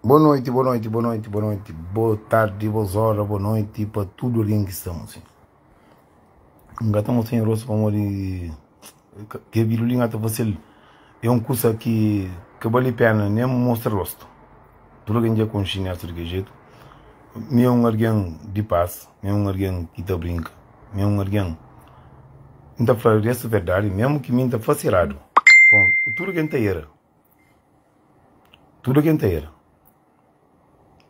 Bo noite, bo noite, bo noite, bo noite, bo tarde, bo zora, bo noite pa tudo alguém que está mocinho. Nga ta mocinho rosto pa modi que vida ali nga ta fasil é um coisa que que vale pena nem mostra rosto. Tudo alguém já conhece nessa de que jeito. Me é um alguém de paz, me é um alguém que tá brinca, me é um alguém não tá falando essa verdade mesmo que mim tá facerado. Bom, tudo alguém tá era. Tudo quem tem era.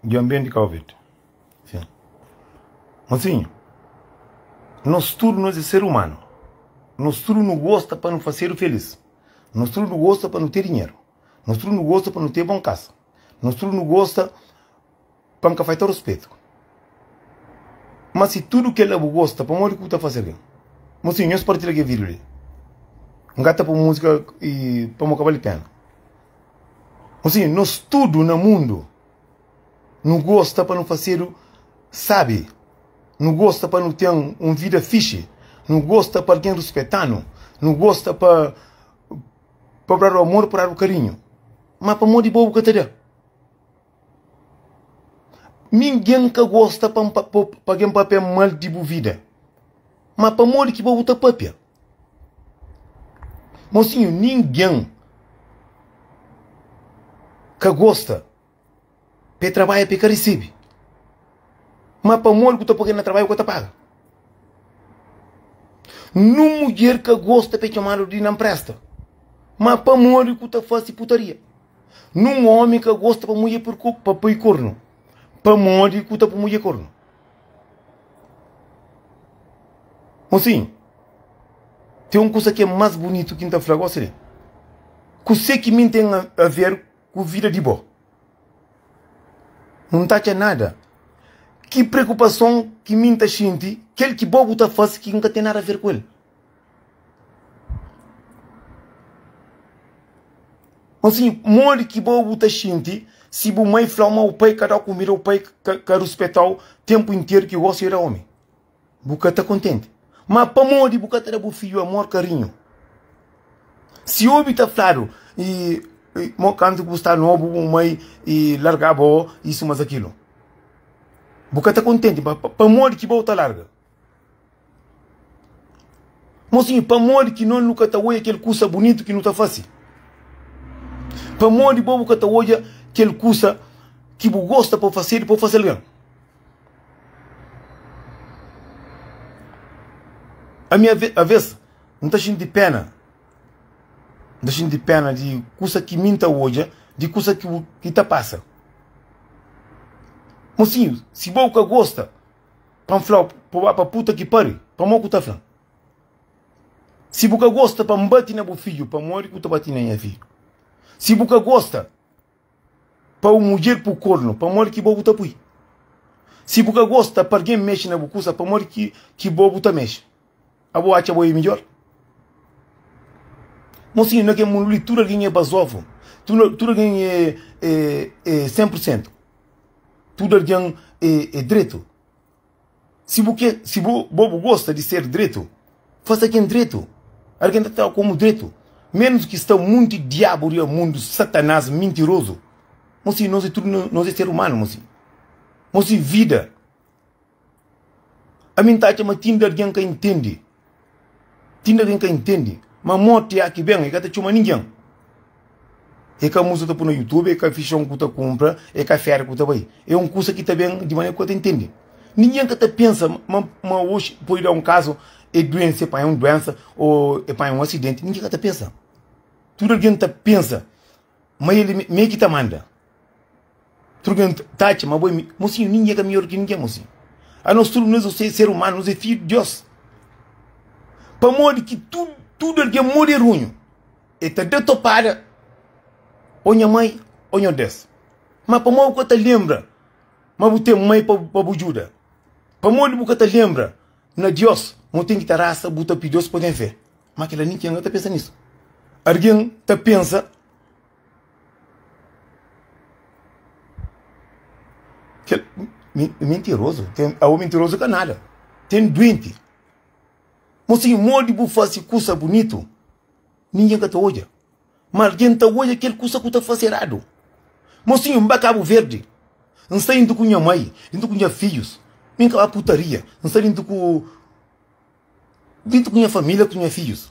De ambiente Covid. Sim. Mas sim, nós tudo nós é ser humano. Nós tudo não gosta para não fazer feliz. Nós tudo não gosta para não ter dinheiro. Nós tudo não gosta para não ter bom casa. Nós tudo não gosta pa N ka fai ta ruspeta-u. Má si tudu kel-la bu gosta, pamodi ki bu ta fase algen? Mon sinhu, nhos partida kel vídiu li. N ka ta poi múzika pamodi ka bali péna. Mon sinhu, nos tudu na mundu nu gosta pa nu fasedu sábi, nu gosta pa nu ten un vida fixi, nu gosta pa algen ruspeta-nu, nu gosta pa bu dadu amor, bu dadu karinhu. Má pamodi bo bu ka ta da? Ningen ka gosta pa N pa gen papia mal di bu vida. Ma pamodi ki pa bu ta papia? Mosinhu, ningen ka gosta pa e trabadja pa e ka resebe. Ma pamodi ku ta poi kel na trabadja bu ka ta paga? Nin mudjer ka gosta pa e txomadu di na mpresta. Ma pamodi ku ta fase putaria? Nun omi ka gosta pa mudje pa pai kornu, pamodi ku ta pu mudje kornu. Mosin, ten un kusa ki é más bunitu ki N ta fla gosi li, Kuse ki mi ten a ver ku vida di bo? Nu N ta atxa nada. Ki preokupason ki mi N ta xinti, kel ki bo bu ta fase ki N ka ten nada a ver ku el. Nfim, modi ki bo bu ta xinti si bu mai fla-u ma bu pai ka da-u kumida ô pai ka ruspeta-u ténpu interu ki gósi é da ómi? Bu ka ta kontenti? Má pamodi bu ka ta da bu fidju amor, karinhu? Si obi ta fladu ma kantu ki bu sta nobu bu mai larga-ba ô isu más akilu, bu ka ta kontenti? Má pamodi ki bo ta larga? Mosinhu, pamodi ki non nu ka ta odja kel kusa bunitu ki nu ta fase? Pamodi bo bu ka ta odja kel kusa ki bu gosta pa fasedu pa bu fase algen? Ami aves N ta xinti péna, N ta xinti péna di kusa ki mi N ta odja, di kusa ki ta pasa. Mosinhu, si bo bu ka gosta. Pa N fla-u, pa bu ba pa puta ki pari? Pamodi ku ta fla, Si bu ka gosta pa N bati na bu fidju, pamodi ku ta bati na nha fidju? Si bu ka gosta pa bu mudjer pui kornu, pamodi ki bo bu ta pui? Si bu ka gosta pa algen mexe na bu kusa, pamodi ki bo bu ta mexe? Abo atxa bo é midjor? Mo sinhu, na kel mundu li tudu algen é bazovu, tudu algen é sen pur sentu, tudu algen é dretu. Si bu kre, si bo bu gosta di ser dretu, fase ken dretu, algen ta trata-u komu dretu, menus ki sta monti diabu riba mundu, satanás mintirozu. Mo sinhu, nos é tudu nos é ser umanu, mo sinhu. Mo sinhu, vida. Ami N ta atxa ma txinde algen ka intende, txinde algen ka intende ma morti ya ki ben, e ka ta txoma ningen, e ka musa ta pui na youtube, e ka fixon ku ta kunpra, e ka feri ku ta bai, e un kusa ki ta ben di manera ku ka ta intende. Ningen ka ta pensa ma oxi pudi da un kazu e duense, e panha un duensa, o e panha un asidenti, ningen ka ta pensa. Tudu algen ta pensa ma el mei ki ta manda. Tudu ken ta atxa ma bo é. Mosinhu, ningen ka midjór di ki ningen, mosinhu. Anos tudu nos é ser umanu, nos é fidju di Diós. Pamodi ki tudu, tudu algen moderunhu e ta da topada ô nha mai ô nha ordés? Má pamodi bu ka ta lenbra ma bu ten mai pa bu djuda? Pamodi bu ka ta lenbra na Diós ma bu ten ki ta rasa, bu ta pidi-L pa bu ten fé? Má kel-la ningen ka ta pensa nisu. Algen ta pensa. Kel, mentirozu, ten, awo mentirozu ka nada, ten duenti. Mosinhu, modi bu fasi kusa bunitu, ningen ka ta odja, ma algen ta odja kel kusa ku ta fasi eradu. Mosinhu, N ba Kabu Verdi, N sai juntu ku nha mai, juntu ku nha fidjus, mi N ka ba putaria, N sai juntu ku, juntu ku nha familia, ku nha fidjus.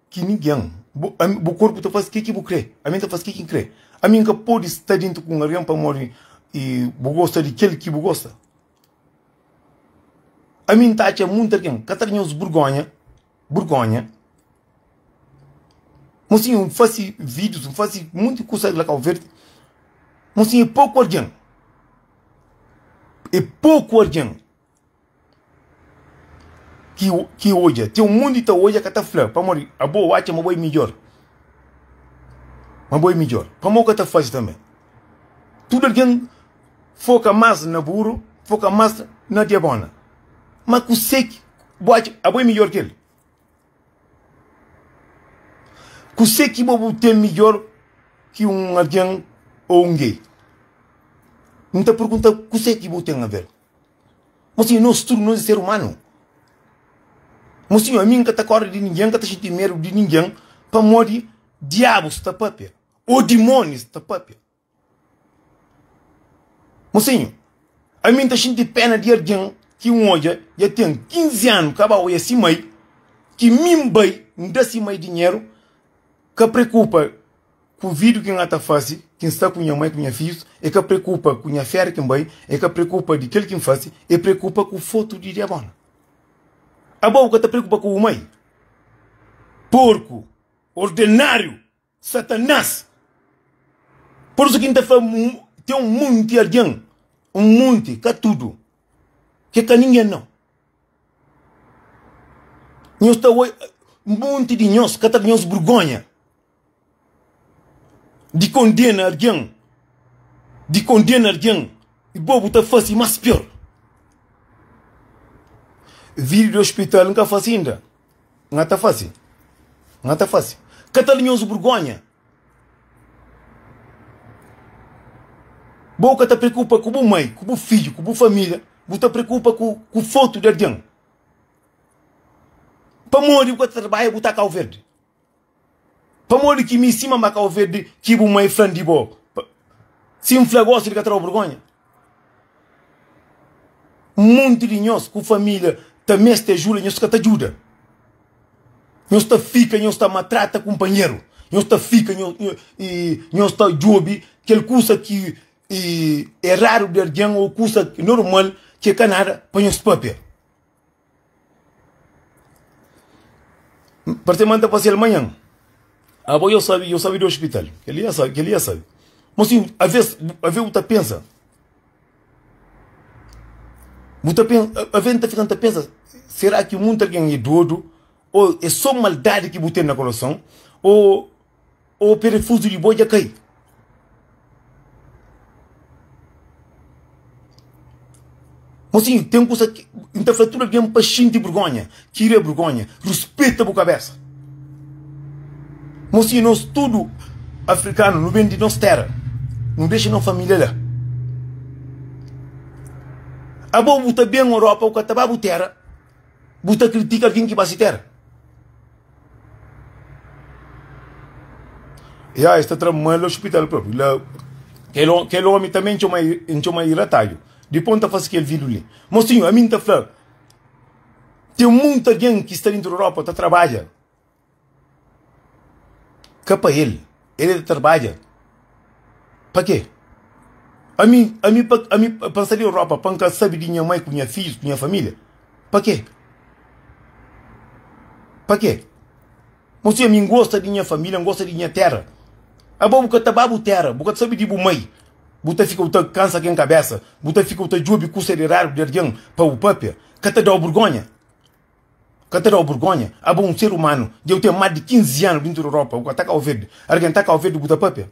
ki ningen. Bu, ami, bu korpu ta fase ke ki bu kre, ami N ta fase ke ki N kre. Ami N ka pode sta dentu ku un algen pamodi e, bu gosta di kel ki bu gosta. Ami N ta atxa monti algen ka ta da nhos burgonha, burgonha. Mosinhu, N fase vidius, N fase monti kusa la Kau Verdi. Mosinhu, e poku algen, e poku algen. ki ki odja ten un monti ta odja ka ta fla pamodi abo atxa ma bo é midjór ma bo é midjór pamodi bo ka ta faze tanbe tudu algen foka más na buru foka más na diabona ma kuse ki bo atxa abo é midjór ki el kuse ki bo bu ten midjór ki un algen ô un gei n ta pergunta kuse ki bu ten aver Mosi nos tudu nos é ser umanu Mosi ami n ka ta korda di ningen n ka ta xinti medu di ningen pamodi diabu sta papia o dimoni sta papia Mosinhu ami n ta xinti pena di algen ki n odja dja ten 15 anu ka ba oja si mai ki mi n bai n da si mai dinheru ka preokupa Ku vidu ki N ta fase, ki N sta ku nha mai ku nha fijus, e ka preokupa ku nha fera ki N bai, e ka preokupa di kel ki N fase, e preokupa ku fotu di diabona. Abo bu ka ta preokupa ku bu mai? Porku, ordenariu, Satanas! Por isu ki N ta fla, ten un munti algen, un munti, ka tudu, ke ka ningen nau. Nhos ta oi, munti di nhos ka ta da nhos burgonha. di kondena algen, di kondena algen y bo bu ta fase mas pior. Video di hospital nka fase inda, nga ta fase, nga ta fase. Ka ta linhoso burgonha. Bo ka ta preocupa ku bu mai, ku bu fidju, ku bu familia, bu ta preocupa ku ku foto di algen. Pamodi bu ka ta trabadja bu ta Cabo Verde. Pamodi ki mi sima ma ka ovedi ki bu mai flan di bo? Si N fla gosi di ka tra-u burgonha? Monti di nhos ku familia ta meste ajuda, nhos ka ta juda. Nhos ta fika, nhos ta matrata kunpanheru. Nhos ta fika, nhos, nhos, i nhos ta jubi kel kusa ki i eradu di algen o kusa normal ki e ka nada pa nhos papia. Parse ma N ta pase-l manhan. Abo yo sabe, yo sabe di ospital. Kel-li N sabe, kel-li N sabe. Má si avês, ave bu ta pensa, bu ta pensa, ave N ta fika N ta pensa, sera ki munti algen é dódu ô é sô maldadi ki bu ten na koroson ô. Ô perefuzu di bo dja kai. Mosinhu, ten kusa ki N ta fla tudu algen pa xinti burgónha, tira e burgónha, ruspeta bu kabésa Mosinhu, nos tudu afrikanu, nu ben di nos téra Nu dexa no família la Abo bu ta ben Europa, bu ka ta ba bu téra Bu ta kritika algen ki ba se téra? Ya, es ta tra ma el ospital propi la. Kel ômi, kel ômi tanbê N txoma-l, N txoma-l di rataju. Dipô N ta fase kel vidru li. Mosinhu, ami N ta fla, ten monti algen ki sta dentu di Europa ta trabadja ka pa el. El é ta tarbadja. Pa kê? Ami, ami, pa, ami pa N sta na Europa pa N ka sabe di nha mai ku nha fidjus, ku nha família? Pa kê? Pa kê? Mon senhor, ami N gosta di nha família, N gosta di nha téra. Abo bu ka ta ba bu téra, bu ka ta sabe di bu mai, bu ta fika bu ta kansa ken kabésa, bu ta fika bu ta djobe kusa di eradu di algen pa bu pâpia? Ka ta da-u burgónha? Ka ta da-u burgonha? Abo un ser umanu, dja bu ten más di 15 anu dintu di ropa, bu ka ta kau verde. Algen ta kau verde, bu ta pâpia?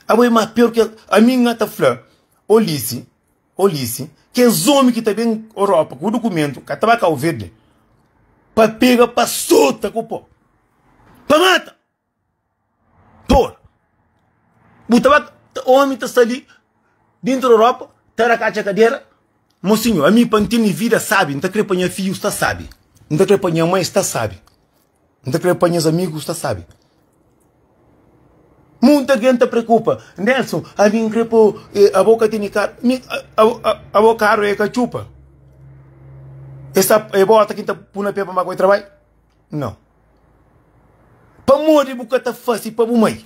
Abo é más pior ki es. Ami N ta fla, Ô Lisi, ô Lisi, kes ómi ki ta ben Europa ku bu dukumentu ka ta ba kau verde pa pega, pa sota ku po, pa mata. Dor. Bu ta ba Omi ta sta li Dintra Europa Ta da katxa kadera Mosinho ami pa N tene vida sabi N ta kre pa nha fidju sta sabi N ta kre pa nha mai sta sabi N ta kre pa nhas amigu sta sabi Munta algen ta preokupa Nelson ami N kre pa bo Abo ka tene karu Mi Abo karu e ka txupa E sta e bota ki N ta pu na pé pa N ba ka bai trabai? No. Pamodi bu ka ta fase pa bu mai?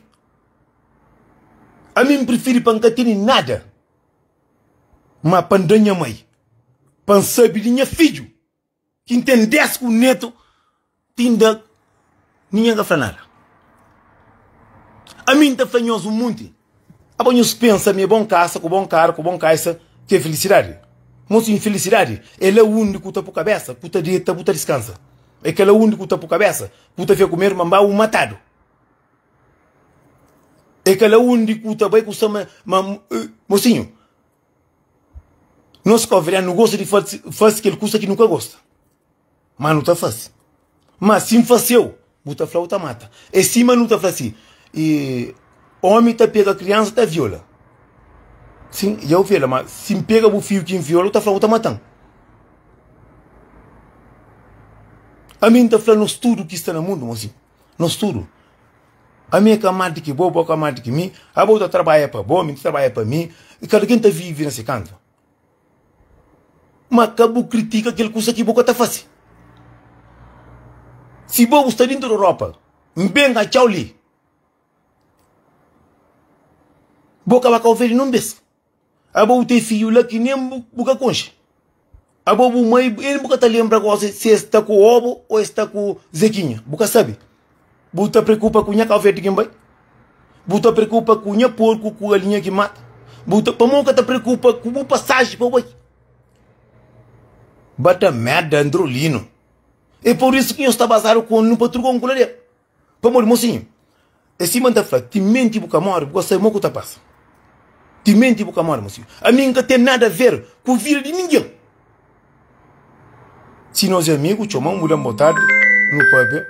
Ami N prifiri pa N ka tene nada, má pa N da nha mai, pa N sabe di nha fidju ki N ten dés ku netu ti N da ninha ka fla nada. Ami N ta fla nhos un monti. Abo nhos pensa ma é bon kasa, ku bon karu, ku bon kaisa ki é filisidadi? Mos infilisidadi é la undi ku ta po kabesa, ku ta deta, bu ta diskansa. É ka la undi ku ta po kabesa, ku bu ta fika ku medu ma N ba bu matadu. É ka la undi ku ta bai ku sa ma, ma, mosinhu, nos ka obi, aliás, nu gosta di fasi kel kusa ki nu ka gosta. Ma nu ta fase. Ma si N fase-u, bu ta fla-u ta mata. É sima nu ta fla si, E ómi ta pega kriansa ta viola. Sin, i au fela, ma si N pega bu fiju ki N viola, u ta fla-u ta mata-m. Ami N ta fla nos tudu ki sta na mundu mon si, nos tudu. Ami é ka mal di ki bo, bo ka mal di ki mi. Abo ta tarbaia pa bo, mi ta tarbaia pa mi. I kada ken ta vive na se kantu. Ma ka bu kritika kel kusa ki bu ka ta fase. Si bo bu sta dintu di Europa, N ben atxa-u li, bo ka ba ka ovel nen un bes. Abo bu ten fidju la ki nen bu ka konxe. Abo bu mai, N bu ka ta lenbra gosi si es sta ku Obo o es sta ku Zekinha, bu ka sabe. Bu ta preokupa ku nha kaufeti ki N bai? Bu ta preokupa ku nha porku ku galinha ki N mata? Bu ta, pamodi bu ka ta preokupa ku bu pasaji pa bai? Ba ta merda Androlino. E por isu ki nhos ta bazadu ku N pa truka un kuladera. Pamodi, mosinhu, e sima N ta fla, timenti bu ka mori bu ka sabe mo ku ta pasa. Timenti bu ka mori, mosinhu. Ami N ka ten nada ver ku vida di ningen. Si nos é amigu, txoma-m, bu da-m botardi nu pâpia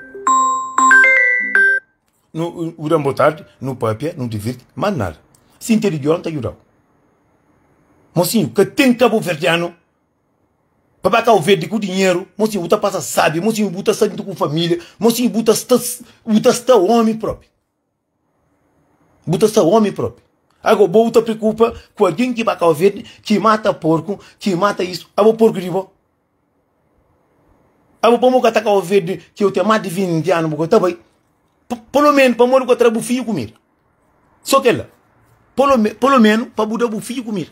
Bu da-m botardi nu pâpia, nu divirti Má nada, sin txeu di djon, N ta djuda-u Mosinhu, ka ten kabuverdianu Pa ba Kauverdi ku dinheru Mosinhu, bu ta pasa sábi Mosinhu, bu ta sa djuntu ku família Mosinhu, bu ta sta, bu ta sta ómi própi. Bu ta sta omi propi. Ago bo ta preocupa ku algin ki ba Cabo Verde ki mata porku, ki mata isu. Abo porku di bo? Abo pamo ka ta Cabo Verde ki yo ten mas di 20 anu bo ka ta bai? Polo menu pamo bu ka tra bu fiju kumida. So kel la. Polo menu, polo menu pa bu da bu fiju kumida.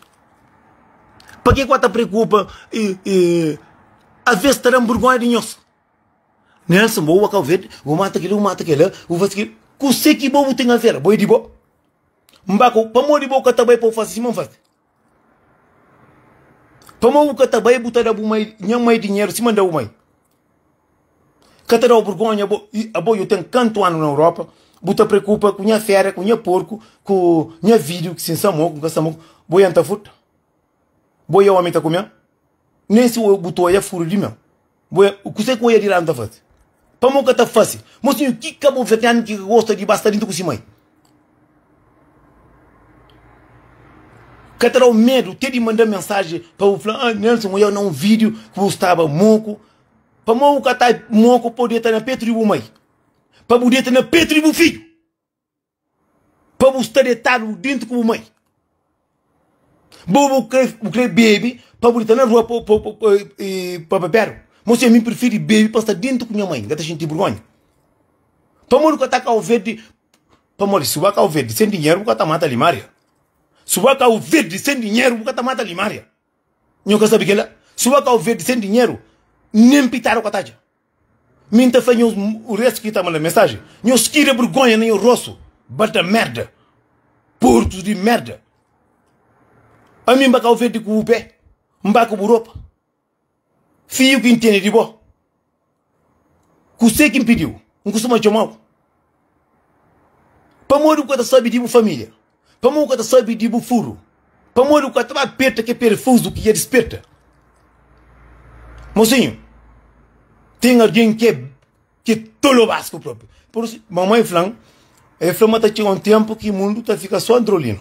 Pake ku a ta preocupa aves ta dan burgonha di nhos. Nelson, bo ua Cabo Verde, bu mata kila, bu mata kila, bu fasi kila. Kuse ki bo bu ten avela? Bo e di bo. N ba ku, pamodi bo ka ta bai pa bu fasi sima N fasi? Pamodi bu ka ta bai bu ta da bu mai, nha mai dinheru sima N da bu mai? Ka ta da bo burgonha bo, i abo yo ten kantu anu na Europa, bu ta preokupa ku nha fera, ku nha porku, ku nha fidju, si N samoku, N ka samoku, bo ya N ta furta? Bo e omi ta ku mel Nen si bu ta oia furu di mel Bo e Kusé ku oia di ladu ta fase Pamo ka ta fase Mosinhu ki kabuverdianu ki ka gosta di ba sta dintu ku si mai Ka ta dau medu te di manda mensaji pa bu fla ah Nelson oia na un video ki bu staba moku Pamo bu ka ta moku pa bu deta na petu di bu mai Pa bu deta na petu di bu fidju. Pa bu sta detadu dentu ku bu mai. Bo bu kre bu kre bebe pa bu dita na rua pa pa pa e pa bebedu. Mo se mi prefiri bebe pa sta dentu ku nha mai, n'ka ta xinti burgonha. Pamodi ku ka ta kau verdi, pamodi si bu ka kau verdi sen dinheru bu ka ta mata limaria. Si bu ka kau verdi sen dinheru bu ka ta mata limaria. Nho ka sabi kela. Si bu ka kau verdi sen dinheru nen pitadu ka ta atxa. Mi nta fla nhos res ki ta manda mensaji, nhos tira bergonha na nho rostu, bata merda, porkus di merda. Ami nba kau verde ku bu pe, nba ku bu ropa. Fiu ki ntende di bo, kuse ki npidiu? Nkustuma txomau. Pamodi bu ka ta sabe di bu família? Pamodi bu ka ta sabe di bu furu? Pamodi bu ka ta ba aperta kel perefuzu ki dja disperta? Mosinhu, ten algen ki é tolo más ki bu própi. Mamai fla-m, el fla ma ta txiga un ténpu ki mundu ta fika sô Androlino.